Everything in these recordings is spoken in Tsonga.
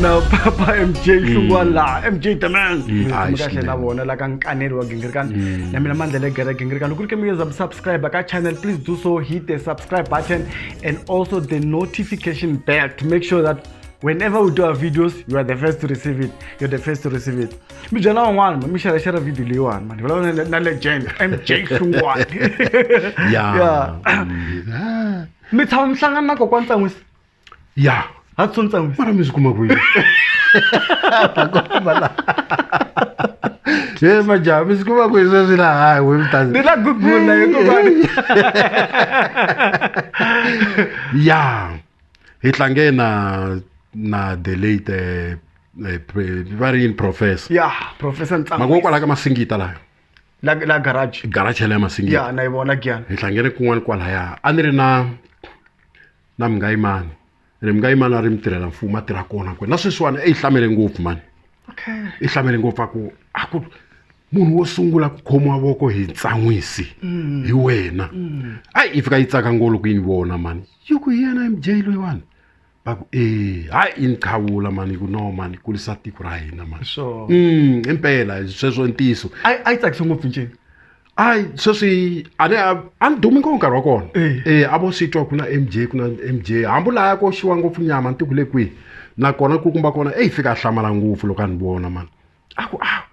na papa mj hlungwani laha mj the man Mm, ayi, kahle swinene. na vona la ka nkaneli wa gingirikani na mina mandla le gere gingirikani loko ri ke mi yeza subscribe ka channel please do so hit the subscribe button and also the notification bell to make sure that whenever we do our videos you are the first to receive it you're the first to receive it mi byela van'wana ma mi xerexera video leyiwani mani vulavula na- na legend mj xungwani ya Yeah. mi tshama mi hlangana na kokwa ntsan'wisi ya ha tso ntsan'wisi mara mi swi kuma kwihi he majaha mi swi kuma kwihi sweswi laha we mi ta ni la gugula hikuvani ya hi tlange na na the late eh, eh, va ri yini professor ya professor ntsangu mako kwala ka masingita layo la la garage garage ya masingita ya na yi vona gyana hi hlangene kun'wana kwalaya a ni ri na na mungayimani ri mungayimani a ri mi tirhela mfumo a tirha kona kwena na sweswiwani i yi hlamele ngopfu mani okay i hlamele ngopfu a ku a ku munhu wo sungula ku khomiwa voko hi ntsan'wisi mm. hi wena mm. a yi fika yi tsaka ngolo ku yi ni vona mani yi ku hi yena mj loyiwani va ku e hayi i ni qhavula mani ku no mani kulisa tiko ra hina mani sure mm impela sweswo i ntiyiso a yi- a yi tsakise ngopfu ncini hayi sweswi a ni a- a ni dumi ngopfu nkarhi wa kona Eh. eh a vo swi twa ku na m j ku na m j hambi u laya ko xiwa ngopfu nyama ni tiku le kwihi nakona ku kumba kona eyi fika a hlamala ngopfu loko a ni vona mani a ku a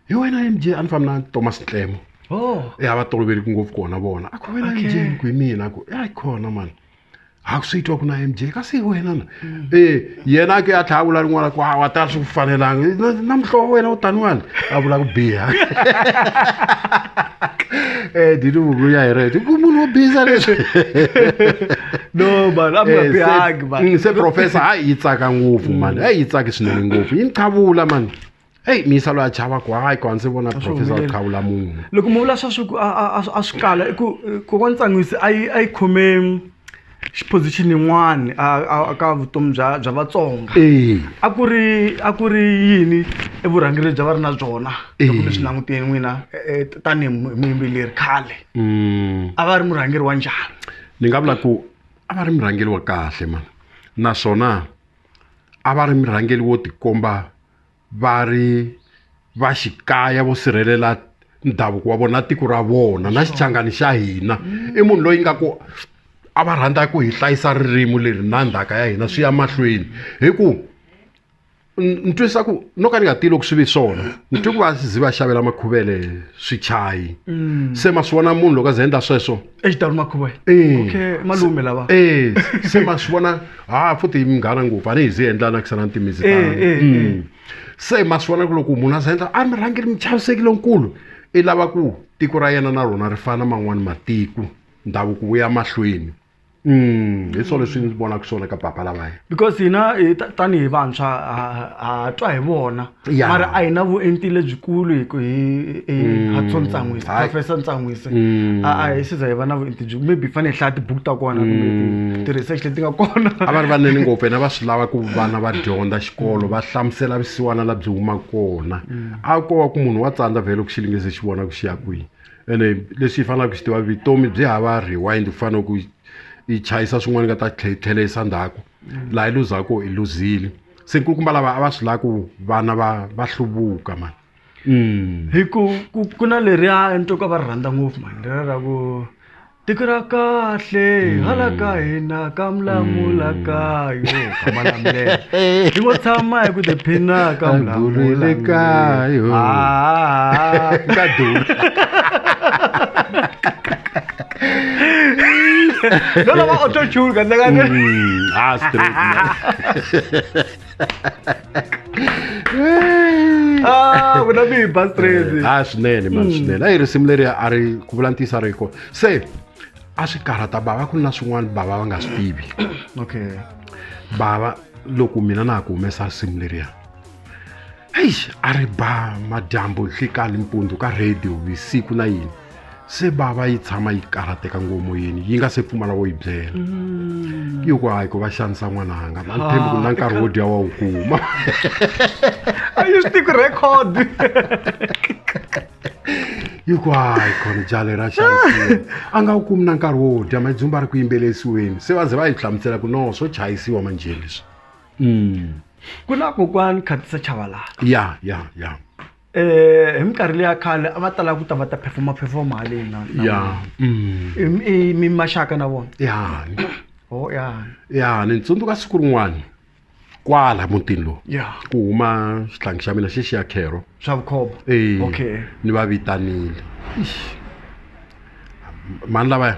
hi wena mj a ni fambi na thomas ntlemo oh. e a va toloveliki ngopfu kona vona a ku wena okay. mj ni ku hi mina a ku e a yi khona mani a ku swi twa ku na mj kasi hi wena na mm. e yena ke a tlha a vula rin'wana ku a wa ta swi ku fanelanga na muhlovo wena u taniwani a vula ku biha Eh, did you go yeah, right? Go muno biza leswi. No man, I'm a big man. Mm, se professor a yi tsaka ngopfu mm. man. A yi tsaki swinene ngopfu. Yi qavula man. Hey, mi salo a chava ku hayi ku hansi vona professor a qavula munhu. Loko mu vula swa swi ku a swi kala i ku ku wa ntsangwisi a yi a yi khome xiphozixini yin'wani ka vutomi bya bya vatsonga a ku ri a ku ri yini i vurhangeri lebyi a va ri na byona loko mi swi langutile n'wina tanihi muyimbeleri khale mm. a va ri murhangeri wa njhani ni nga vula ku a va ri murhangeri wa kahle mani naswona a va ri murhangeri wo tikomba va ri va xikaya vo sirhelela ndhavuko wa vona na tiko ra vona na xichangani xa hina mm. i munhu loyi nga ku a va rhandza ku hi hlayisa ririmi leri na ndhaka ya hina swi ya mahlweni hi ku ni twisisa ku no ka ni nga tivi loko swi vi swona ni twi ku va zi va xavela makhuvele swichayi mm. se ma swi vona munhu loko a ze endla sweswo exidawuni makhuva Eh. okay malume lava Eh, se ma swi vona ha futhi hi munghana ngopfu a ni hi zi endla na kisana ntimisi Eh, tano. eh, Mm. eh. se ma swi vona ku loko munhu a za endla a mi rhangeli mi chavisekile nkulu i lava ku tiko ra yena na rona ri fana man'wani matiko ndhavuko wu ya mahlweni Mm, hi swona leswi ndzi vonaka swona ka papa lavaya because hina hi ta- tanihi vantshwa ha- ha twa hi vona Ya. mara a hi na vuenti lebyikulu hi ku hi hi hatso ntsan'wisi Hayi. professor ntsan'wisi Mm. a a hi siza hi va na vuenti byi maybe hi fanele hi hlaya tibuku ta kona kumbe ti-research leti nga kona a va ri vanene ngopfu yena va swi lava ku vana va dyondza xikolo va hlamusela visiwana la byi huma kona a ko va ku munhu wa tsandza vhele ku xilingizi xi vona ku xi ya kwihi ene leswi hi faneleke ku xi tiva vutomi byi hava rewind ku fanele ku yi chayisa swin'wana yi nga ta tlhe- tlheleyisa ndzhaku laha yi luzaka i luzile se nkulukumba lava a va swi lava ku vana va va hluvuka mani mm. hi ku ku na leriya entoka va ri rhandza ngopfu mani leriya ra ku tiko ra kahle mm. hala ka hina ka mulamula mm. kayo ka malamulelo hi ngo tshama hi ku tiphina ka mulamula kayo ah. ka dula no lo va a otro churro, anda ganando. Mm, astro. ah, ku na mi bus train. Ah, swinene man mm. swinene. Ayi risimu leri a ri ku vula ntisa ri ko. Se a swi karhata bava ku na swin'wana bava va nga swi tivi. Okay. Bava loko mina na ha ku humesa risimu leriya. eish a ri ba madyambu nhlikani mpundzu ka radio vusiku na yini se bava yi tshama yi karhateka ngomoyeni yi nga se pfumala wo yi byela mm. yi ku hayi ku va xanisa n'wananga na ntshembi ku na ah, nkarhi wo dya wa wu kuma a yi swi tiku record yi ku hayi khona jale ra xanisiwa a nga wu kumi na nkarhi wo dya madzumba ri ku yimbelesiweni se va ze va yi hlamusela ku no swo chayisiwa manjhe leswi Mm. ku na kokwani khatisa chavalala ya ya ya um hi minkarhi leya khale a va tala ku ta va ta phefoma phefoma haleni na- na- ya Mm. I- i- mi maxaka na vona ya o ya ya ni tsundzuka siku rin'wana kwala mutini lowu ya ku huma xihlangi xa mina xexi ya khero swa vukhomba Eh, okay ni va vitanile Eish. mani lavaya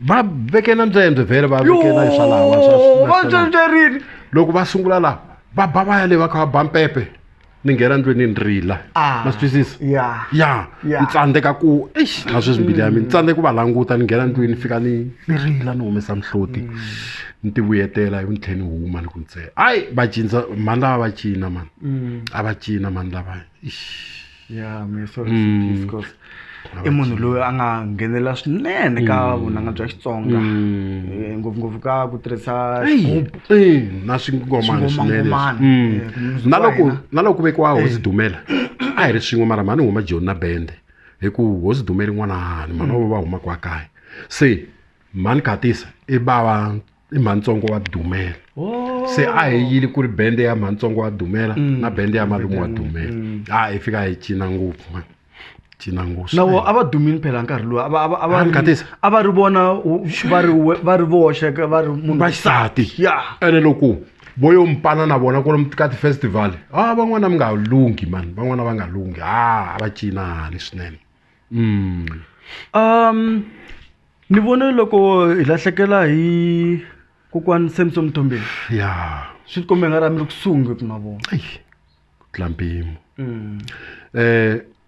va veke na ntswembe vhele va veke na swalawa va ntswembyerini loko va sungula laha va ba va ya le va kha va ba mpepe ni nghena ndlweni ni rila ah, ma swi twisisa ya ya ni tsandzeka ku eish na sweswi mbili ya mina ni tsandzeka ku va languta ni nghena ndlwini ni fika ni ni rila ni humesa mihloti mm. ni ti vuyetela ivi ni tlhela ni huma ni ku ntsena hayi va cinca mhani lava va cina mani mm. a va cina mhani lava eish ya mi sorry mm. because i munhu loyi a nga nghenela swinene ka mm. vunanga bya xitsonga mm. eh, ngopfungopfu ka ku tirhisa eh, na swingomana swinene na loko na loko ku vekiwa hosi dumela a hi ri swin'we mara mhani huma joni na bende hi ku hosi dumela n'wana hani mhani va va huma kwa kaya se mhani khatisa i bava i mhantsongo wa dumela oh. se a hi yili ku ri bende ya mhantsongo wa dumela mm. na bende ya malume wa dumela mm. a hi fika hi cina ngopfu ma cina ngopfu nawo a va dumini phela nkarhi lowu a va ri vona va ri voxe va ri munhu vaxisati ya ene loko vo yo mpana na vona kolomu ka ti-festival a van'wana mi nga lunghi mani van'wana va nga lunghi a a va cinani swinene ni vone loko hi lahlekela hi kokwani Samsom Mtombeni ya swi tikombe nga ri a mi ri kusuhi ngopfu na vona eyi ku tlula mpimo um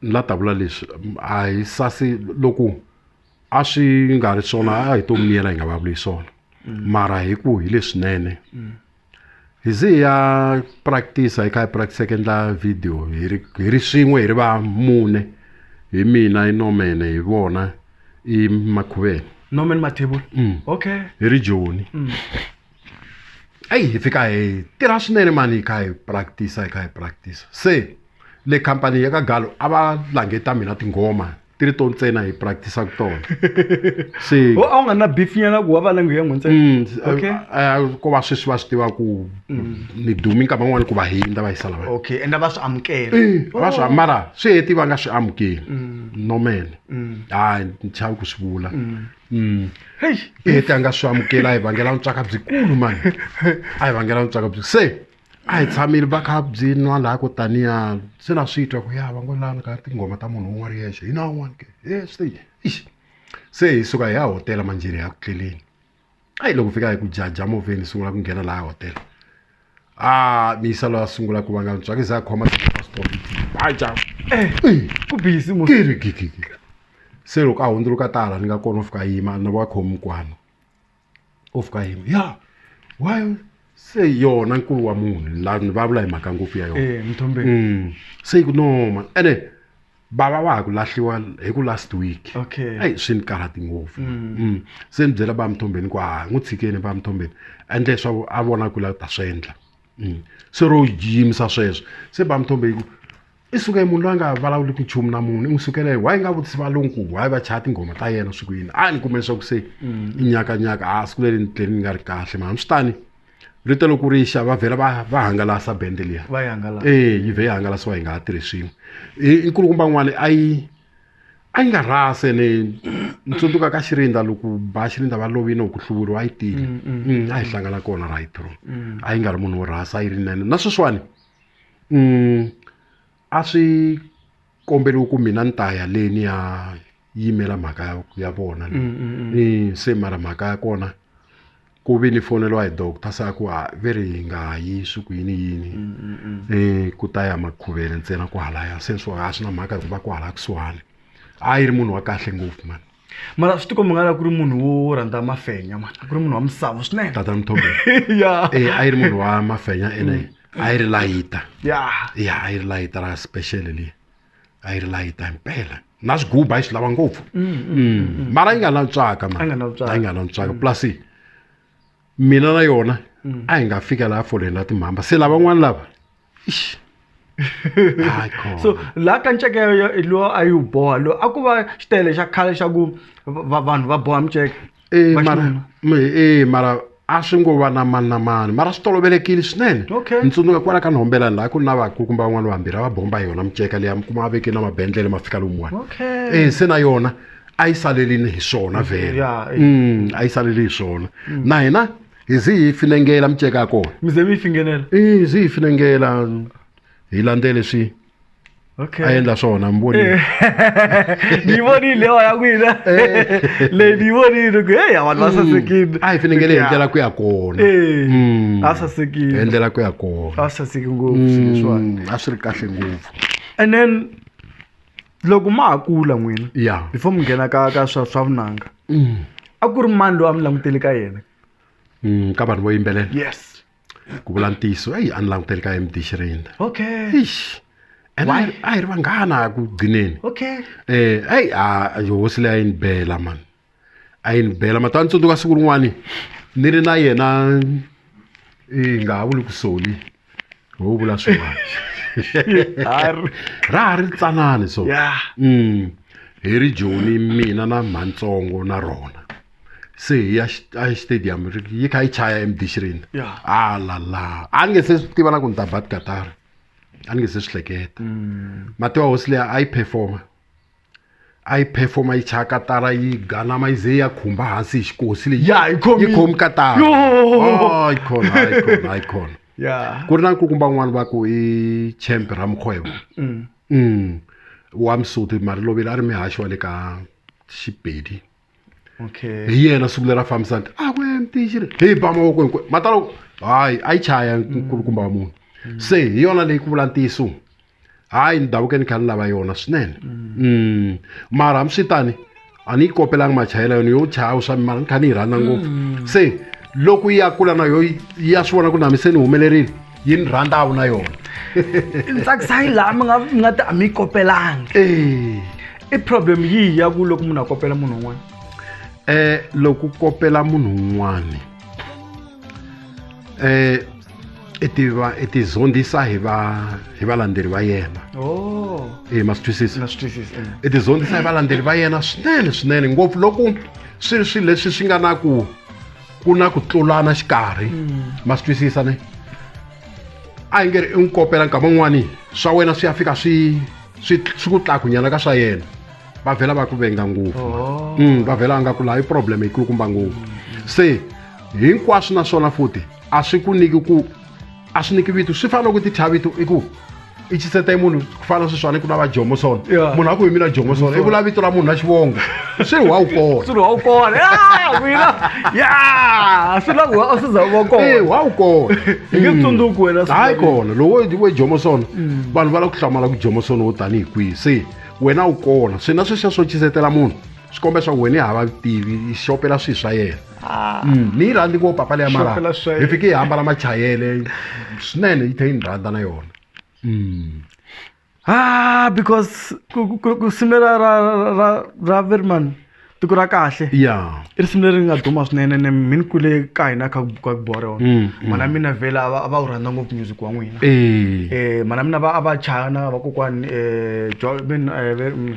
ni la ta vula leswi a hi sasi loko a swi nga ri swona a hi to miyela hi nga va vuli hi swona mara hi ku hi leswinene hi ze hi ya practice hi kha hi practice ku endla video hi ri hi ri swin'we hi ri va mune hi mina i nomene hi vona i makhuveni norman mathebula Mm. okay hi ri joni Mm. eyi hi fika hi tirha swinene mani hi kha hi practice hi kha hi practice se le khampani ya ka galo a va langeta mina tinghoma ti ri to ntsena hi practice-aka tona se ho a wu nga na beef nyana ku wa va langu ya n'wintsena Mm, Okay. eh, eh, ko va sweswi va swi tiva ku ni dumi nkama n'wana ku va hindza va yisa lava okay ende va swi amukela va swi mara swi heti va nga swi amukeli nomene hayi ni chavi ku swi vula Mm. Hey, i heti a nga swi amukela a hi vangela vutswaka byikulu mani a hi vangela vutswaka byi se a hi tshamile va kha byi nwa laha ko taniya se na swi twa ku ya va ngo lani ka tinghoma ta munhu un'wana yexe hi na un'wana ke e swi ixi se hi suka hi ya hotela manjheni hi ya ku tleleni a yi loko fika hi ku jaja movheni sungula ku nghena laha hotela a miyisa loyi a sungula ku vanga ntswaki za a khoma tiaja ku bisi kiri gigigi se loko a hundzuluka tala ni nga kona u fika yima ni va khomi kwano of ka him ya why se yona nkulu wa munhu la ni va vula hi mhaka ngopfu ya yona eh mthombeni Mm. se yi ku no man ene bava wa ha ku lahliwa hi ku last week Okay. eyi swi ni karhati ngopfu Mm. se ni byela ba mthombeni ku ha n'wi tshikeni ba mthombeni endle leswaku a vona ku la ta swi endla Mm. se ro yimisa sweswo se ba mthombeni yi ku i suke munhu loyi a nga vulavuli ku nchumu na munhu i n'wi sukele why nga vutisi valungu ku why va chaya tinghoma ta yena siku yini a ni kume leswaku se mm. i nyakanyaka a siku leri ni tleli ni nga ri kahle mara swi tani rito loko ri xa va vhela va va hangalasa bende liya ee yi vhe yi hangalasiwa yi nga ha tirhisiwi inkulukumba n'wana a yi a yi nga rhase ni ni tsundzuka ka xirinda loko ba xirinda va lovini ku hluvuriwa a yi tile mm, mm. a hi hlangana kona right ro a yi nga ri munhu wo rhasa a yi ri nene na sweswiwani a swi komberiwa ku mina ni ta ya le ni ya yimela mhaka ya ya vona le ni se mara mhaka ya kona ku ve ni foneriwa hi doctor se a ku ha ve ri hi nga yi swi ku yini yini i ku ta ya makhuvele ntsena kwahalaya se swo a swi na mhaka hikuva kwahala kusuhani a yi ri munhu wa kahle ngopfu mani. mara swi tikomba nga la ku ri munhu wo rhandza mafenya mani ku ri munhu wa misava swinene tata mthobe ya e a yi ri munhu wa mafenya ene a yi ri layita ya ya a yi ri layita ra special le a yi ri layita himpela na swiguba yi swi lava ngopfu Mm, mara yi nga lantswaka a nga mani a yi lantswaka nga lantswaka plus mina na yona mm. a hi nga fika laha foleni la timhamba se lavan'wana lava so laha ka nceke lowa a yi wu boha loyi a ku va xitele xa khale xa ku vanhu va boha miceke e mara e mara a swi ngo va na mani na mani mara swi tolovelekile swinene ni tsundzuka kwala ka nhombelani laha ku ri na vaku kumbe van'wana vambirhi a va bomba hi yona miceka leyi a mi kuma a veke na mabendlele ma fika lomuwani e se na yona a yi salelini hi swona vhele mm, a yi saleli hi swona mm. na hina hi zi hi finengela miceka ya kona mize mi yi fingenela hi zi hi finengela hi landze leswi okay. a endla swona mi vonile eh. ni yi vonile lewa ya n'wina eh. leyi ni yi vonile ku heyi vanhu va mm. sasekile a hi finengele hi ndlela ku ya kona eh. mm. a sasekile hi ndlela ku ya kona a saseki ngopfu mm. leswiwani a swi ri kahle ngopfu and then loko ma ha kula n'wina ya before mi nghena ka ka swa swa vunanga Mm. a ku ri mani loyi a mi langutele ka yena Mm, ka vanhu vo yimbelela yes ku vula ntiyiso eyi a ni languteli ka md xirinda okay Eish. ene a Why? hi- a hi ri vanghana ku gcineni okay um eyi a hosi leyi a yi ni bela mani a yi ni bela mati a ni tsundzuka siku rin'wani ni ri na yena i nga ha vuli ku soli ho vula swin'wana ra ha ri tsanani so mm. hi ri joni mina na mhantsongo na rona se hi ya exitadium yi kha yi chaya emdishirini alala a ni nge se swi tiva na ku ni ta bat katara a ni nge se swi hleketa mm. matiwa hosi leyi a yi performa a yi performa yi chaya katara yi ganama yi ze yi ya khumba hansi hi xikosi leyi Ya, yi khomi- yi khomi katara Yo! Oh, yi khona a yi khona a yi khona ya ku ri na nkukumba un'wana va ku i champ ra mukgwebo mm. wa msoti mari lovile a ri mihaxi wa le ka xipedi okay hi yena siku leri a fambisa nti a kwe mtixi ri hi ba mavoko hinkwe matalo hayi a yi chaya nkulukumba wa munhu se hi yona leyi ku vula ntiyiso hayi ni davuke ni kha ni lava yona swinene mm. mara hambiswitani a ni yi kopelanga machayela yona yo chaya swa mara ni kha ni yi rhandza ngopfu se loko yi ya kula na yo yi ya swi vona ku namiseni humelerile yi ni rhandzawu na yona ntsakisa yi laha mi nga mi nga ti a mi yi kopelanga Eh, i problem yihi ya ku loko munhu a kopela munhu un'wana eh loko u kopela munhu un'wana eh i tiva i tizondzisa hi va hi valandzeri va yena o eh ma swi twisisa na swi twisisa i tizondzisa hi valandzeri va yena swinene swinene ngopfu loko swi ri swilo leswi swi nga na ku ku na ku tlulana xikarhi mm. ma swi twisisa ne a yi nge ri i n'wi kopela nkama un'wani swa wena swi ya fika swi swi swi ku tlakunyana ka swa yena va vhela va ku venga ngopfu oh. mm, va vhela va nga ku laha i problem yikulukumba ngopfu se hinkwaswo na swona futi a swi ku niki ku a swi niki vito swi fana loko ti thya vito i ku i chiseta i munhu ku fana sweswiwani ku na va jomoson munhu a ku hi mina jomoson i vula vito ra munhu na xivongo swi ri wa wu kona swi ri wa wu kona mina ya swi la ku a swi za wa kona e wa wu kona hi nge tsundzuki wena mm. hayi kona lowo we jomoson mm. vanhu va la ku hlamala ku jomoson wo tanihi kwihi se wena wu kona swi na sweswiya swo chisetela munhu swikombe swa wena hava tivi i xopela swilo swa yena ah. mm, ni yi rhandzi ngopfu papa leya mara hi fike yi hambala machayele swinene yi tlhe yi ni rhandza na yona mm. ah because ku simela ra ra ra verman tiko ra kahle ya i risimu leri nga duma swinene ne mi ni kule ka hina ka ka bua rona mm, mm. mana mina vhela a va a va wu rhandza ngopfu music wa n'wina eh. eh mana mina va a va chaya na vakokwani um eh,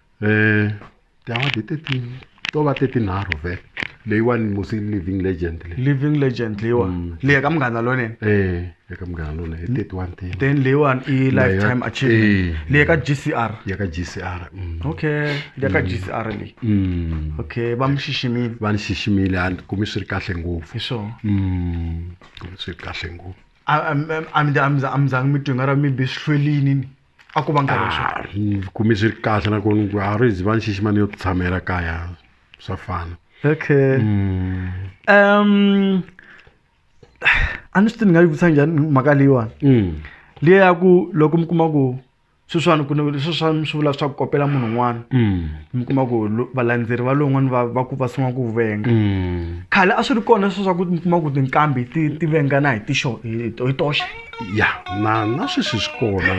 um tiawadi teti to va tetinharhu ve leyiwani musi living legend le living legend leyiwa Mm. leyi ka munghana lonene um eka munghana lona hi teti wa ntima then leyiwani i lifetime achievement Eh. leyi ka gcr ya ka gcr mm. okay leyi ka gcr leyi Mm. okay va mi xiximile va ni xiximile a ni kumi swi ri kahle ngopfu hi swona Mm, kumi swi ri kahle ngopfu A- a- a- a mi za- a mi za- a mi zanga mi twi nga ra mi be swihlwelini ni a ku va nkarhi wa swona Ah, ni kume swi ri kahle nakona ku a ri ziva ni xixima ni yo tshamela kaya swa fana okay um a ni swi tivi ni nga yi vutisa njhani mhaka leyiwani Mm. liya ya ku loko mi kuma ku sweswiwani ku ni sweswiwani swi vula swa ku kopela munhu un'wana Mm. mi kuma ku lo- valandzeri va lowun'wana va va ku va sungula ku venga Mm. khale a swi ri kona sweswa ku mi kuma ku tinkambi ti ti vengana hi tixo hi to- hi toxe ya na na sweswi swi kona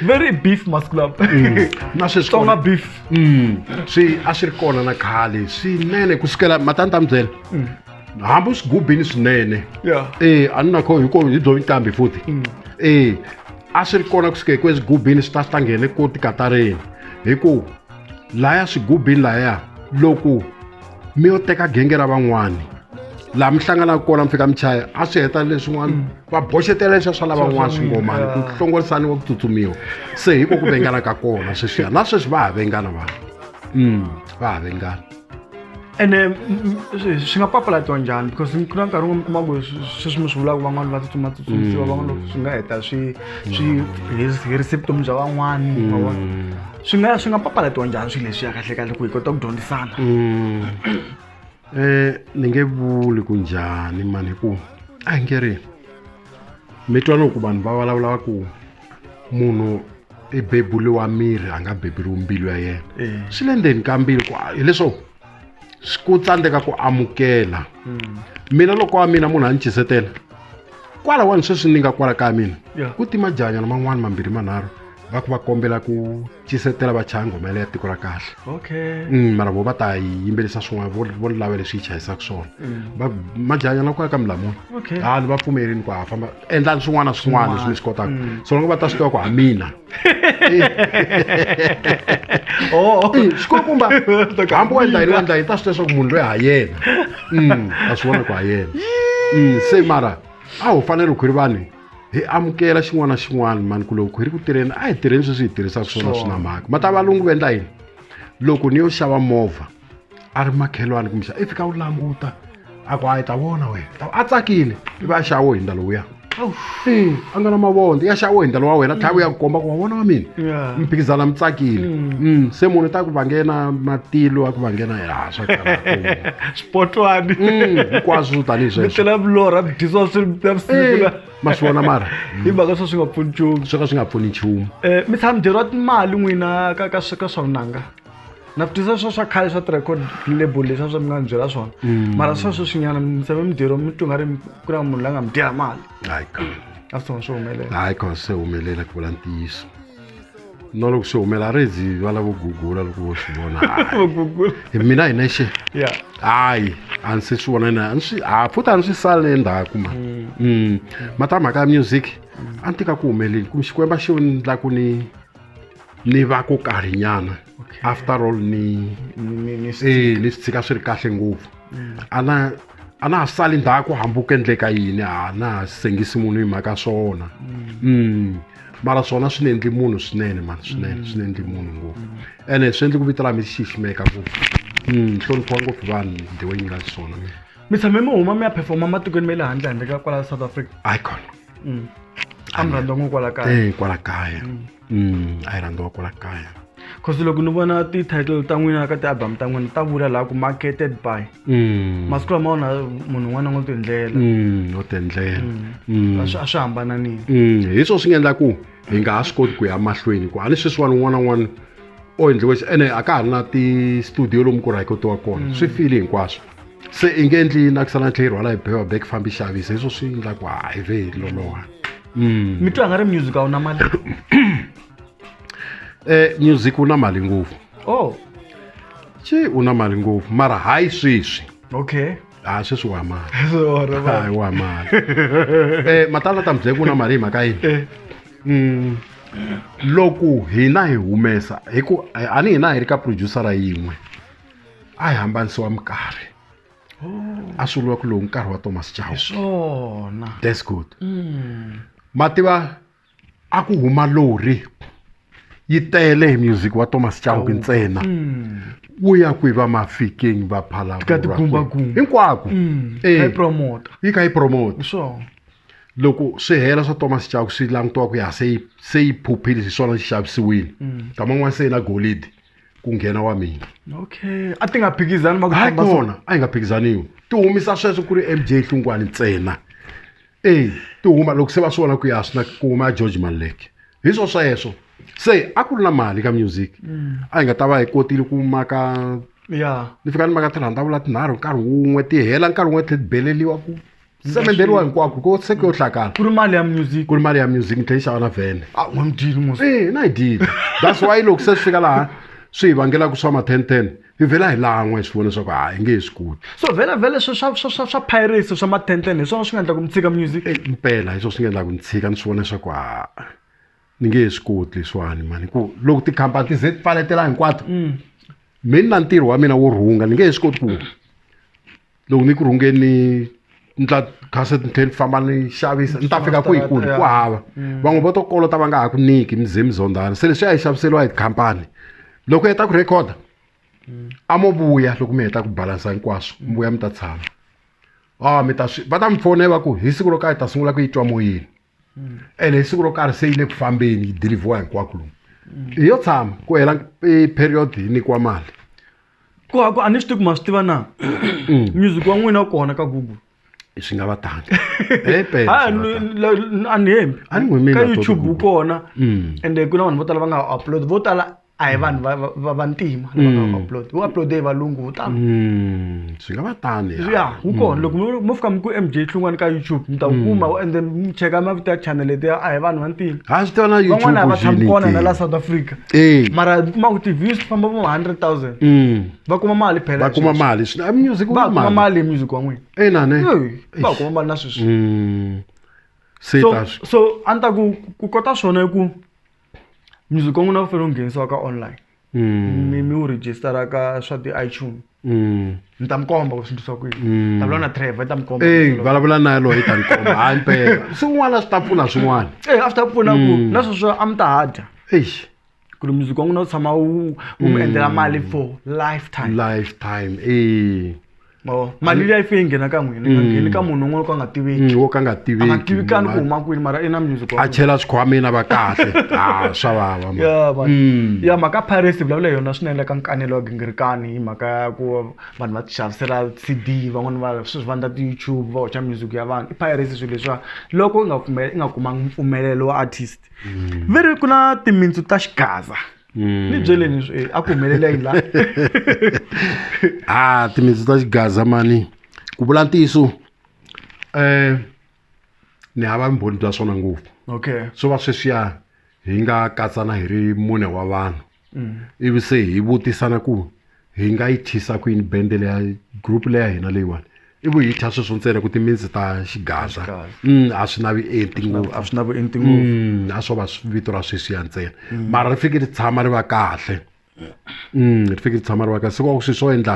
very beef masclub mm. na sweswitsonga beef mm. swi a swi ri kona na khale swinene ku sukela matani ta mi byela mm. hambi u swi gubini swinene e a ni na kho hi ko hi byo ntambi futhi e a swi ri kona ku suka hi ku eswigubini swi ta swi ta nghene ko tikatareni hi ku laya swigubini laya loko mi yo teka genge ra van'wani laha mi hlanganaka kona mi fika mi chaya a swi heta leswin'wana mm. va boxetela leswiya swa lavan'wana swingomani ku hlongorisani wa ku tsutsumiwa se hi ko ku vengana ka kona sweswiya na sweswi va ha vengana vanhu mm, va ha vengana ene swi nga papalatiwa njhani because ku na nkarhi wun'we mi kuma ku sweswi mi swi vulaka van'wana va tsutsuma tsutsumisiwa mm. van'wana swi nga heta swi swi herise vutomi bya van'wani swi nga swi nga papalatiwa njhani swilo leswiya kahle kahle ku hi kota ku dyondzisana um ni nge vuli ku njhani mani hi ku a hi nge ri mi twa loko vanhu va vulavula va ku munhu i beburiwa miri a nga beburiwi mbilu ya yena swi le ndzeni ka mbilu ku hileswo ku tsandzeka ku amukela hmm. mina loko wa mina munhu a ni chisetela kwalawani sweswi ni nga kwala ka mina ku tima janyana man'wani mambirhi manharhu va ku va kombela ku chisetela va chaya nghoma yaleya tiko ra kahle okay mm, mara vo va ta yi yimbelisa swin'wana vo ni lava leswi yi chayisaka swona mm. va majanyana ku ya ka milamuni okay ha ni va pfumerini ku ha famba endlani swin'wana na swin'wana leswi mi swi kotaka mm. so loko va ta swi tiva ku ha mina oh. xikulukumba hambi wa endla yini wa endla yi ta swi leswaku munhu loyi ha yena mm, a swi vona ku ha yena mm, se mara a wu fanele khwiri vanhu hi amukela xin'wana na xin'wana mani ku loko khwiri ku tirheni a hi tirheni sweswi hi tirhisaka swona swi na mhaka mata valungu va endla yini loko ni yo xava movha a ri makhelwani kumisa i fika u languta a ku a yi ta vona wena a tsakile i va a xawo hi ndlalo wuya e a nga na mavondzo ya xawo hi ndlalo wa wena tlhava ya ku komba ku wa vona wa mina mi phikizana mi tsakile mm. Mm, se munhu ta ku vangena matilo a ku vangena ya swa swipotwani mm, hinkwaswo tanihi sweswotlhela vulorha dyisiwa swi navusiku ma swi vona mara hi mhaka swo swi nga pfuni nchumu swo ka swi nga pfuni nchumu um mi tshama mi dyeriwa timali n'wina ka ka ka swa vunanga na vutisa swa swa khale swa ti-record label leswi a swa mi nga ni byela swona mm. mara swa sweswinyana mi tshame mi dyeriwa mi twi nga ri ku na munhu la nga mi dyela mali a swi tshama swi humelela hayi ka se humelela ku vula ntiyiso na loko swi humela a ri zi va lavo gugula loko vo swi vona hi mina hi nexe hayi a ni se swi vona na ni swi a futhi a ni swi sale endzhaku ma mm. Mm. matamhaka ya music a ni tika ku humeleli kumbe xikwemba xi ni la ku ni ni va ku karhinyana okay. after all ni ni swi eh, tshika swi ri kahle ngopfu mm. a na a na ha sali ndzhaku hambi ku endleka yini a na ha sengisi munhu hi mhaka swona mm. mm. mara swona swi ni endli munhu swinene mani swinene mm. swi ni endli munhu ngopfu mm. ene swi endli ku vito ra mi xiximeka ngopfu mm, hloniphiwa ngopfu vanhu ndiwe yi nga swona mi tshame mi huma mi ya performa matikweni ma le handle handle ka kwala south africa icon mm. a mi rhandza n'wi kwala kaya e kwala kaya mm. Mm, a yi rhandziwa kwala kaya cause loko ni vona ti-title ta n'wina ka ti-album ta n'wina ta vula laha ku marketed by mm. masiku lama wona munhu un'wana ngo tiendlela mm, ngo tiendlela mm. a swi hambananini hi swona swi nga endla ku hi nga ha swi koti ku ya mahlweni ku a ni sweswiwani un'wana un'wana o endliwe ene a ka ha ri na ti-studio lomu ku rhayikotiwa kona swi file hinkwaswo se i nge endli yini a ku sala tlhe yi rhwala hi bewa bek fambi xavisa hi swo swi endla ku hayi ve hi loloha mm. mi twa nga ri music a wu na mali um music wu na mali ngopfu o oh. ci u na mali ngopfu mara hayi sweswi okay ha ah, sweswi wa mali hayi wa mali um matala ta mibye ku na mali hi mhaka yini eh. mm. loko hina hi humesa hi ku a ni hina hi ri ka producer ra yin'we a hi hambanisiwa minkarhi a swi vuriwa ku lowu nkarhi wa thomas chauke hi swona that's good ma tiva a ku huma lori yi tele hi music wa thomas chauke ntsena ku ya kwihi va mafikeng va Ka phalavura tigumbagumba. hinkwako Mm. Eh. Hi promoter. yi kha yi promote swona loko swi hela swa thomas chauke swi langutiwa ku ya se yi- se yi phuphile hi swona xi xavisiwile Mm. kama n'wana se yi na golidi ku nghena wa mina okay a ti nga phikizani ma ku hayi famba so- kona a yi nga phikizaniwi ti humisa sweswo ku ri mj hlungwani ntsena eyi ti huma loko se va swi vona ku ya swi na ku huma ya george maleke hi swo sweswo se a ku ri na mali ka music a yi nga ta va hi kotile ku maka ya ni fika ni maka tirhandavula tinharhu nkarhi wun'we ti hela nkarhi wun'we tlhe ti beleliwa ku ndzi ta mi endleriwa hinkwako ko se ku yo hlakala ku ri mali ya music ku ri mali ya music ni tlhe yi xava na vhene a u n'wamdili mos e na yi dile that's why loko se swi fika laha swi hi vangelaka swa ma-ten ten hi vhela hi lan'wa hi swi vona leswaku ha hi nge hi swi koti so vhela vhela swa swa swa swa swa piracy swa matenten hi swona swi nga endla ku mi tshika music e mpela hi swona swi nga endlaka ni tshika ni swi vona leswaku ha ni nge he swi koti leswiwani mani ku loko tikhampani ti ze ti pfaletela hinkwato mi ni na ntirho wa mina wo rhunga ni nge he swi koti ku loko ni ku rhungeni ni tla khase ni tlhela ni famba ni xavisa ni ta fika kwihi kuni ku hava mm. van'we vo to kolota va nga ha ku nyiki mi ze mi zondzana se leswi a yi xaviseriwa hi tikhampani loko yi heta ku rhekhoda mm. a mo vuya loko mi heta ku balansa hinkwaswo mi vuya mi ta tshama a ah, mi ta swi va ta mi fone va ku hi siku ro ka hi ta sungula ku yi twa moyeni hmm. ene hi siku ro karhi se yi le ku fambeni yi dilivhiwa hinkwako lomu hmm. hi yo tshama ku hela e period hi nyikiwa mali ku a ku a ni swi tivi ku ma swi tiva na hmm. music wa n'wina kona ka google swi nga va tanga a ni hembi ka youtube wu kona ende ku na vanhu vo tala va nga upload vo tala a hi vanhu va va- va vantima lava nga Mm. upload wu uploade hi valungu wu tano Mm, swi nga va tani ya. ya wu kona loko mo- mo fika mi ku mj hlungwani ka youtube mi ta wu kuma and then mi cheka mavito ya channel letiya a hi vanhu vantima ha swi tona van'wana a va tshami kona na la youtube south africa Eh. mara mi kuma ku ti-views ti famba vo 100000 Mm, va kuma mali phela va kuma mali swi- ah, music wu va na kuma mali hi music wa n'wina ina ne Eh, va kuma mali na sweswi Mm, se so ta swi so a ni ta ku ku kota swona i ku music wa n'wina wu fanele wu nghenisiwa ka online mi mi wu register-a ka swa ti-iTunes ni ta mi komba ku swi endlisiwa ku yini ni ta vulavula na Trevor i ta mi komba eyi vulavula na yaloyi ta ni komba hayi mpela swin'wana swi ta pfuna swin'wana Eh, a swi ta pfuna ku na sweswo a mi ta ha dya eish ku ri music wa n'wina wu tshama wu wu mi endlela mali for lifetime lifetime eyi mavona mali liya yi fike yi nghena ka n'wina yi nga ngheni ka munhu un'wana ka nga tiveki Mm, wo ka nga a nga tiveki tivekani ku huma kwini mara i na music wa a chela swikhwameni a va kahle ha swa vava man. ya man. Mm. ya mhaka piracy vulavula hi yona swinene ka nkanelo wa gingirikani hi mhaka ya ku va vanhu va tixavisela cd van'wana va sweswi va ndla ti-youtube va hoxa music ya vanhu i piracy swilo leswiwa loko i nga pfume- i nga kumanga mpfumelelo wa artist veri ku na timintsu ta xigaza hmm. ni byeleni swi eh, a ku humelela yi la a ah, timitsu ta xigaza mani ku vula ntiyiso um eh, ni hava vumbhoni bya swona ngopfu okay swo va sweswiya hi nga katsana hi ri mune wa vanhu mm. ivi se hi vutisana ku hi nga yi thisa ku yini bende leya group leya hina leyiwani i vu hi thya sweswo ntsena ku timinzi ta xigaza mm, a swi navi enti ngopfu a swi navi enti ngopfu mm, a swo va vito ra sweswiya ntsena mm. mara ri fike ri tshama ri va kahle ri fike ri tshama ri va kahle se kwaku sweswi swo endla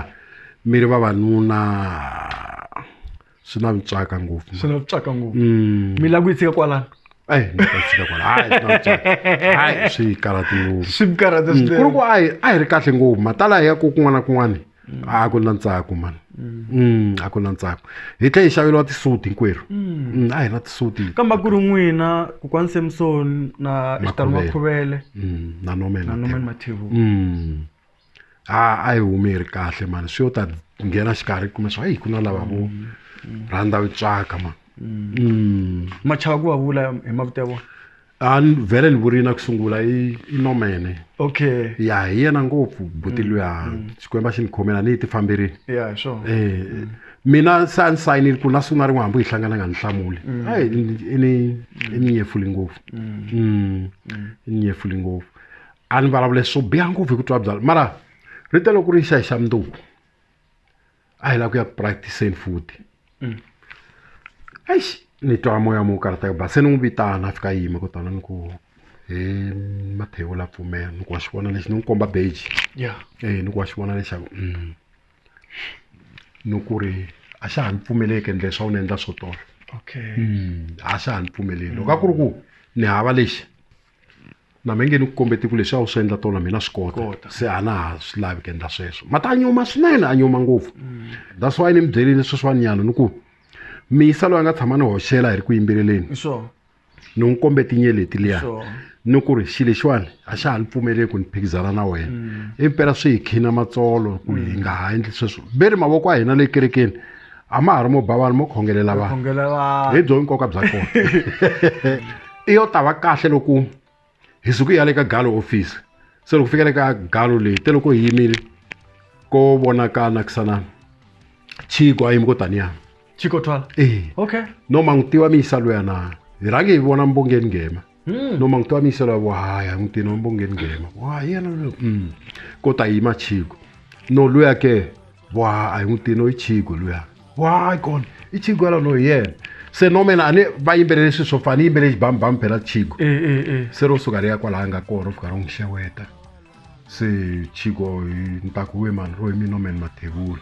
mi ri vavanuna swi na vutswaka ngopfu swi na vutswaka ngopfu mm. mi lava ku yi tshika kwalano eyi ni ta tshika kwala hayi swi na vutswaka hayi swi yi karhati ngopfu swi mi karhata mm, swinene ku ri ku a hi a hi ri kahle ngopfu matala ya ku kun'wana na kun'wana mm. a ku na ntsako mani Mm, a ku na ntsako hi tlhe hi xaveriwa tisuti hinkwerhu mm. a hi na tisuti kambe ku ri n'wina kokwani samson na xitalo makhuvele na nomen mathevu a a yi humi yi ri kahle mani swi yo ta nghena xikarhi kuma swa yi ku na lava vo rhandza yi tswaka ma mm. machava ku va vula hi mavito ya vona a ni vhele ni vurile na ku sungula i i nomene okay ya hi yena ngopfu buti mm, luya mm. xikwembu a xi ni khomela ni yi ti famberile ya hi swona um mina se a ni sayinile ku na siku na rin'we hambi hi hlangana nga ni hlamuli a i ni nyefuli ngopfu i ni nyefuli ngopfu a ni vulavule swo biha ngopfu hi ku twa byala mara ri tele ku ri xa hi xa mundzuku a hi lava ku ya ku practiceni futhi mm. eish ni twa moya mo karata yo ba se ni n'wi vitana a fika yima kutana ni ku he mathewu la pfumela ni ku wa xi vona lexi ni n'wi komba beji ya e ni ku wa xi vona lexaku mm. ni ku ri a xa ha ni pfumeleki endle swa wu ni endla swo tolo okay mm, a xa ha ni pfumeleli loko a ku ri ku ni hava lexi na mi nge ni ku kombe tiku leswi a wu swi endla tona mina swi kota se a na ha swi lavi ku endla sweswo mati a nyuma swinene a nyuma ngopfu mm. that's why ni mi byerile sweswiwani nyana ni ku miyisa loyi a nga tshama ni hoxela hi ri ku yimbeleleni ni n'wi kombe tinye leti liya ni ku ri xi lexiwani a xa ha ni pfumeleli ku ni phikizana na wena mm. impela swi hi khina matsolo ku hi mm. nga ha endli sweswo ve ri mavoko a hina le kerekeni a ma ha ri mo ba vanhu mo khongelela vanhu khongela vanhu hi byo nkoka bya kona i yo tava kahle loko hi suku ya le ka galo office se loko fika le ka galo leyi te loko hi yimile ko vonaka nakisana chiko a yimi ko taniya chiko twala ee okay no ma n'wi tiva miyisa luyana hi rhange hi vona mbongeni nghema Hmm. noma ngitwanise lavo hayi angidini wambo ngeningema wa yena lo mm. kodwa yima chiko no luya ke wa ayingidini oyichiko luya wayi kona ichiko yala no yena se no mina ani va yimbelele swi swo fana yimbelele xibambam phela chiko eh, eh, eh. se ro suka ri ya kwalaha nga kona fika ro n'wi xeweta se chiko ni ta ku we mani ro hi mina no mani mathevula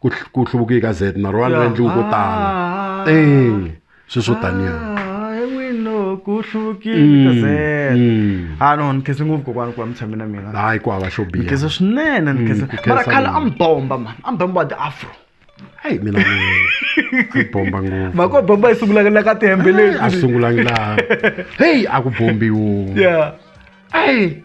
ku hl- ku hluvukiwe ka z na ro va ni Ya. endliwi ko tala Ah. e swi swo taniya Ah, he wino ku hluvukile ka Z. Mm. Ah no, ni khense ngopfu kokwana ku va mi tshame na mina. hayi ku hava xo Ni biha khense swinene, ni khense. ku khensa Mara khale mina. a mi bomba man, a mi bomba the afro. hayi mina ni bomba ngopfu Mhaka yo bomba yi sungulaka la ka tihembe a leti. sungulanga laha heyi a ku bombiwo Yeah. eyi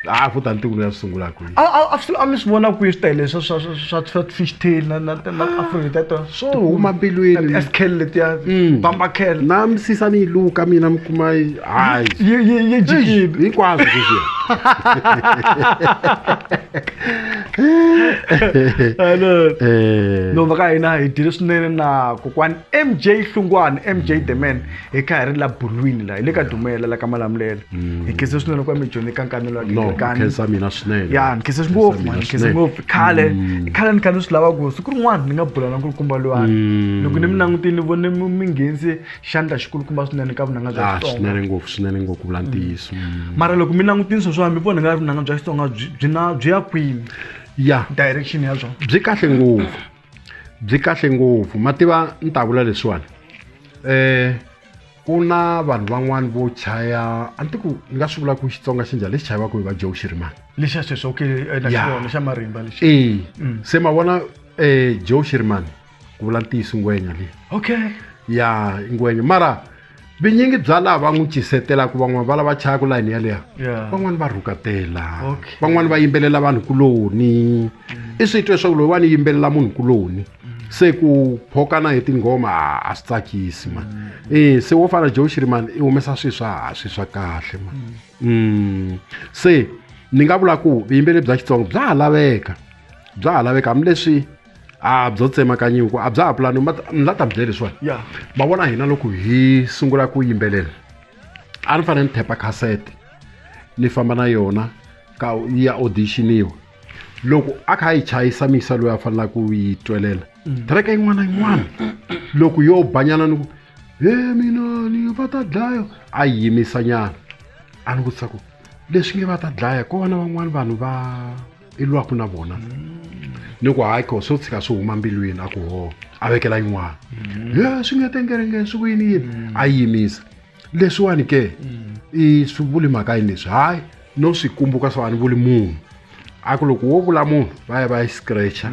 a ku ta ni tikulo ya swi sungula kwihi a a- a swi- a mi swi vona kwihi swi tele swa swa swa- swa swa fish tail na na na afrika ta tona swo huma mbilwini eskel letiya Mm. bamba kel na misisa ni yi luka mina mi kuma yi hayi yi yi yi jikile hinkwaswo leswiya Hello. Eh. nhova ka hina hi dyile swinene na kokwani mj hlungwani mj the man hi ka hi ri la bulwini la hi le ka dumela la ka malamulela hi khense swinene ku va mi dyondze ka nkanelo wa no Gilgani. khensa mina swinene ya ni khense Khensa ngopfu mina man, ni khense swinene. ngopfu khale i khale ni kha ni swi lava ku siku rin'wana ni nga bula na nkulukumba lowani Mm. loko ni mi langutile ni vone mi mi nghenise xandla xikulukumba swinene ka vunanga bya Ah, xitsonga swinene ngopfu swinene ngopfu ku vula ntiyiso Mm. mara loko mi langutile swo swami mi vona nga ri vunanga bya xitsonga byi byi na byi ya kwini ya direction ya byona byi kahle ngopfu byi kahle ngopfu ma tiva ni ta vula leswiwani um ku na vanhu van'wani vo chaya a ni ti ku ni nga swi vula ku xitsonga xi njhani lexi chayiwaka hi va joe xirimani lexa sweswi okay eh, na Yeah. xona xa marimba lexi ee Mm. se ma vona um joe xirimani ku vula ntiyiso ngwenya leyi okay ya ngwenya mara vinyingi bya laha va n'wi cisetelaka van'wana va lava chayaka layini yaleya Yeah. van'wana va rhukatela Okay. van'wana va yimbelela vanhu kuloni i swi twe swaku loyi wa ni yimbelela munhu kuloni se ku phokana hi tinghoma a- a swi tsakisi ma e se wo fana joe shirimani i humesa swi swa ha swi swa kahle ma Mm. se ni nga vula ku vuyimbeleri bya xitsonga bya ha laveka bya ha laveka hambileswi a byo tsemakanya ku a bya ha pulani ni la ta mi byela leswiwani yeah. ma vona hina loko hi sungula ku yimbelela a ni fanele ni thepa khasete ni famba na yona ka yi ya auditioniwa loko a kha a yi chayisa misa loyi a fanelaka ku yi twelela mm. tereka yin'wana na yin'wana loko yo banyana ni ku he mina ni va ta dlaya a yi yimisanyana a ni vutisa ku leswi nge va ta dlaya ko vana van'wana vanhu va i lwaku na vona ni ku hayi ko swo tshika swi huma mbilwini a ku ho a vekela yin'wana ye swi nge tengerengeni swi ku yini yini a yi yimisa leswiwani ke i swi vuli mhaka yini leswi hayi no swi kumbuka swa ni vuli munhu a ku loko wo vula munhu va ya va yi scratcha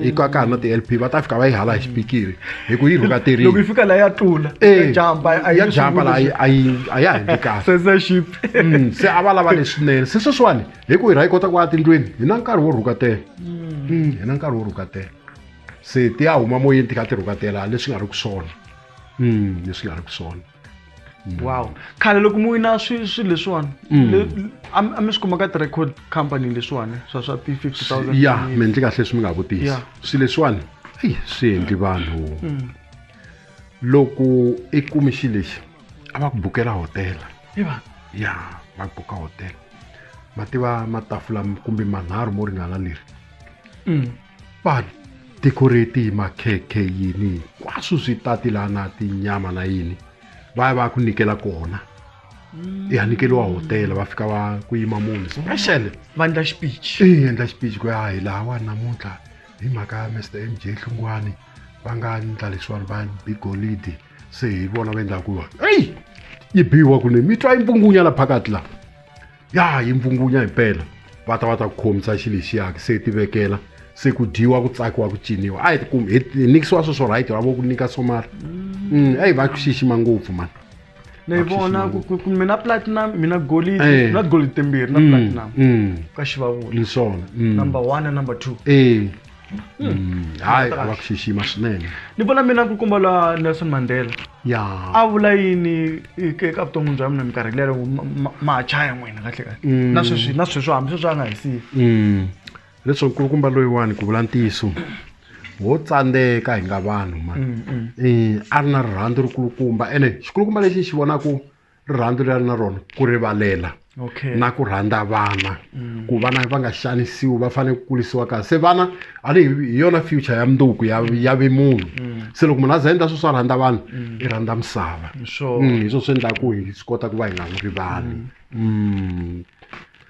i ka ka na ti-lp va ta fika va yi hala hi xipikiri hi ku yi loko yi rhukaterini fika laha ya tlula Eh, jamba a ya jamba laha a yi- a ya ha endli kahle censorship Mm, se a va lava leswinene se sweswiwani hi ku hi ra yi kota ku ya tindlwini hi na nkarhi wo rhukatela mm, hi na nkarhi wo rhukatela se ti ya huma moyeni ti kha ti rhukatela leswi nga ri ku swona mm, leswi nga ri ku swona mm. wow khale loko mu wina swilo swi leswiwani a mi swi kuma ka ti-record company leswiwani swa swa ti-fifty thousand ya mi endli kahle leswi mi nga vutisa swilo leswiwani eyi swi endli vanhu loko i kumi xi lexi a va ku bukela hotela iva ya va ku buka hotela ma tiva matafula kumbe manharhu mo ringana leri mm. va decorate hi makhekhe yini hinkwaswo swi tati laha na tinyama na yini va ya va ya ku nyikela kona mm. ya nyikeliwa hotela va fika va ku yima munhu special va endla xipichi endla xipichi ku ya hi laha wa namuntlha hi mhaka ya mr m j hlungwani va nga endla leswiwani va bi golidi se hi vona va endlaku yona eyi yi biwa kuni mi twa yi mpfungunya la phakati la ya yi mpfungunya himpela va ta va ta ku khomisa xi lexiyaki se ti vekela se ku dyiwa ku tsakiwa ku ciniwa a hi hi nikisiwa sweswo right va vo ku nyika somara mm, eyi va ku xixima ngopfu mani na yi vona ku- ku- ku mi na platinum mi na golidi Eh. mi na golidi timbirhi na Mm, platinum mm, ka xivavula ni swona mm. number one na number two Eh. Mm, hayi a va ku xixima swinene ni vona mina ku kumba la nelson mandela ya a vula yini eka eka vuton'wini bya mina minkarhi lero ma- ma- ma ha chaya n'wina kahle kahle Mm. na sweswi na sweswi hambi sweswi a nga hi siyi Mm. leswo nkulukumba loyiwani ku vula ntiyiso wo tsandzeka hi nga vanhu ma mm, mm. Eh, a ri na rirhandzu ri kulukumba ene xikulukumba lexi xi vonaku rirhandzu leri a ri na rona ku rivalela na ku rhandza vana mm. ku vana va nga xanisiwi va fanele ku kurisiwa kahle se vana a ni hi yona future ya munduku ya ya vimunhu se loko munhu a za endla swo swa rhandza vanhu i rhandza misava hi swo swi endlaku hi swi kota ku va hi nga n'wi rivali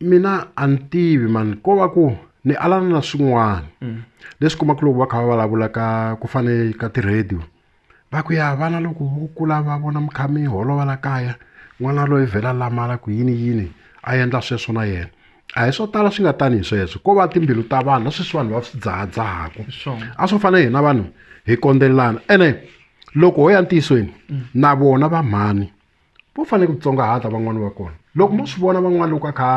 mina a ni tivi mani ko va ku ni alana na swin'wana mm. leswi kumaka loko va kha va vulavula ka ku fane ka ti-radio va ku ya vana loko vo kula va vona mi kha mi holova la kaya n'wana loyi vhela lamala ku yini yini a endla sweswo na yena a hi swo tala swi nga tani hi sweswo ko va timbilu ta vanhu na sweswi vanhu va swi dzahadzahaka a swo fana hina vanhu hi kondzelelana ene loko ho ya ntiyisweni mm. na vona va mhani vo fanele ku tsongahata van'wani va kona loko mo swi vona van'wana loko a kha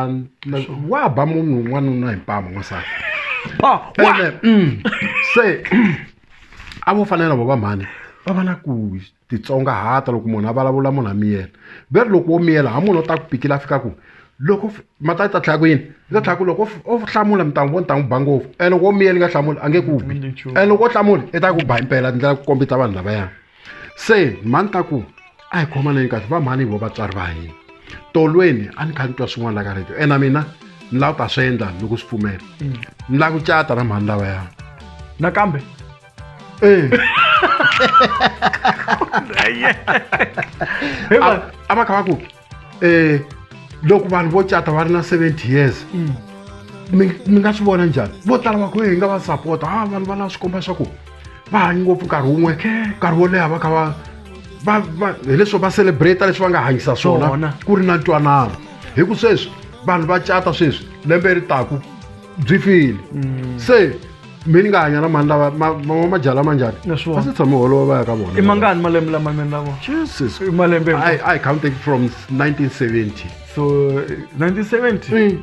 wa ba munhu un'wana un'wana hi mpama n'wansati ah, ene mm, se a vo fanele na vo va mhani va va na ku titsongahata loko munhu a vulavula munhu a miyela ve ri loko wo miyela ha munhu o ta ku pikile a fika ku loko mata yi ta tlhaya ku yini yi ta tlhaya ku loko o hlamula mi ta n'wi vona ta n'wi ba ngopfu and loko wo miyela yi nga hlamuli a nge ku bi and loko o hlamuli i ta ku ba impela ndlela ku kombisa vanhu lavayani se mhani ta ku a hi khomaneni kahle va mhani hi vo vatswari va hina tolweni a ni kha ni twa swin'wana la ka radio ena mina ni lava ku ta swi endla loko swi pfumela mm. ni lava ku cata na mhani lava ya nakambe ee a va kha va ku um loko vanhu vo cata va ri na seventy years mm. mi nga swi vona njhani vo tala va ku hi nga va sapota a ah, vanhu va lava swi komba swa ku va hanyi ngopfu nkarhi wun'we nkarhi wo leha va kha va va va hileswo va celebrate leswi va nga hanyisa swona ku ri na ntwanano hi ku sweswi vanhu va cata sweswi lembe ri taku byi file mm. se mi ni nga hanya na mani lava mama majaha lama njhani va se tshame holova va ya ka vona i mangani malembe lama mini lavo jesus i malembe i, I counted from 1970 so 1970 mm.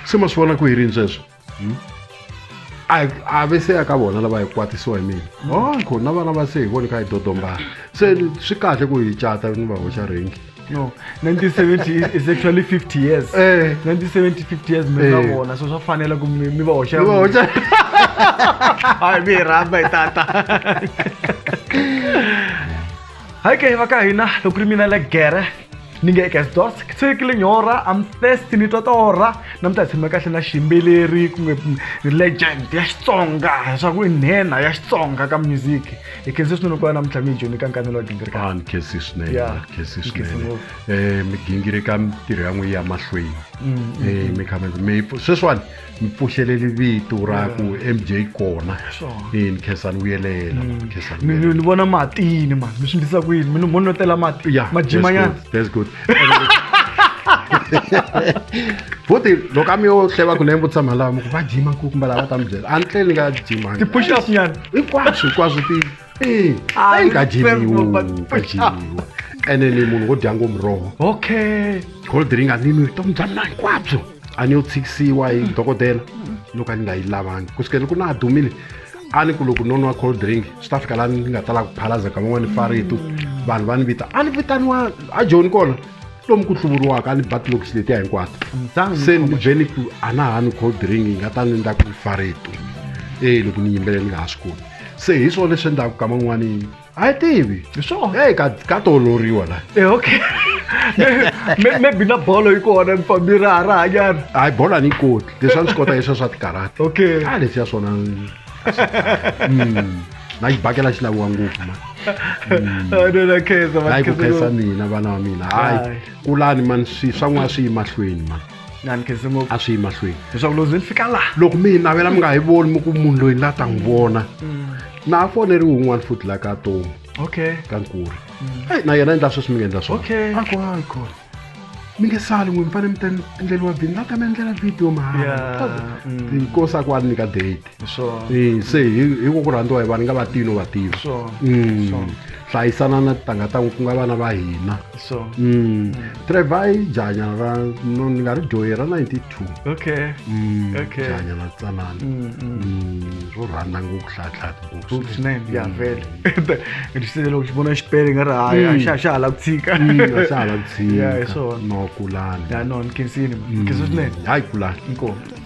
se ma swi vona ku hi rini sweswo hmm? a ve se ya ka vona lava hi kwatisiwa hi mina hmm. onko oh, na vana va se hi voni ka hi dodombana se swi kahle ku hi cata ni va hoxa rengi no 1970 is actually 50 years eh. 1970 50 years mi nga eh. vona so swa fanela ku mi va hoxa hayi mi hi rhamba hi tata Hi kayo makayo na lo criminal gere ni nge eka dos siku linyora am thirsty ni twa torha namuntlha hi tshame kahle na xiyimbeleri kumbe legend ya xitsonga leswaku i nhenha ya xitsonga ka music hi khensi swinene ku va namuntlha mi hi joni ka nkanelo wa gingirika ni khensi swinene Yeah. ni khensi Ni khensi swinene ngopfu. um migingirika mitirho ya n'wi ya mahlweni Mm, um mi kha mi mi sweswiwani mi pfuxeleli vito ra ku mj kona ni khensani vuyelela mm. ni vona matini ma mi swi ndlisa ku yini mi ni monotela mati ya majimanyana that's good futhi loko a mi yo hleva ku lembo tshama lava mi ku va jima ku kumbe lava ta mi byela a ni tleli ni nga jima ti-push up nyana hinkwaswo hinkwaswo ti ee a yi nga dyiviwa nga dyiviwa ene ni munhu wo dya ngo muroho okay cold ring a ni nwi vutomi bya mina hinkwabyo a ni yo tshikisiwa hi dokodela loko a ni nga yi lavangi ku sukela loko na ha dumile a ni ku loko no nwa cold drink swi ta fika laha ni nga tala ku phalaza ka van'wana faritu vanhu va ni vita a ni vitaniwa a joni kona lomu ku hluvuriwaka a ni batlokisi letiya hinkwato se ni vhe ni ku a na ha ni cold drink yi nga ta ni ndla ku ni faritu e loko ni yimbelela ni nga ha swi koti se hi swona leswi endlaka kama n'wanini a yi tivi hi swona eyi ka toloriwa la e okay maybe na bolo yi kona mi fambi ra ha ra hanyana hayi bolo a ni yi koti leswi a ni swi kota leswiya swa tikarata okay a leswiya swona hmm. na yi bakela xi laviwa ngopfu ma hayi ku khensa mina vana va mina hayi kulani mani swi swa n'wana swi yi mahlweni mani na ni khense ngopfu a swi yi mahlweni leswaku lozi ni fika laha loko mi yi navela mi nga yi voni mi ku munhu loyi la ta n'wi vona na a foneriwe un'wana futhi la ka tomu okay ka nkuri eyi na yena endla sweswi mi nga endla swona okay a kona a kona mi nge sali n'wi mi fanele mi ta endleriwa vhini la ta mi endlela video mahala Yeah, mm. inkosi a ku a ni nyika date se hi ko ku rhandziwa hi vanhu nga vativi no vativi mm. hlayisana na titangha ta ku nga vana va hina mm. mm. trevor i janya ra no ni nga ri dyohi ra 92 janya na tsanana ro rhandza ngopfu hlayahlayaeloko xi vona xipele nga ri haya xa xa hala ku tshika xa hala ku tshika no kulani no ni kensini ni kensi swinene hayi kulani inkomo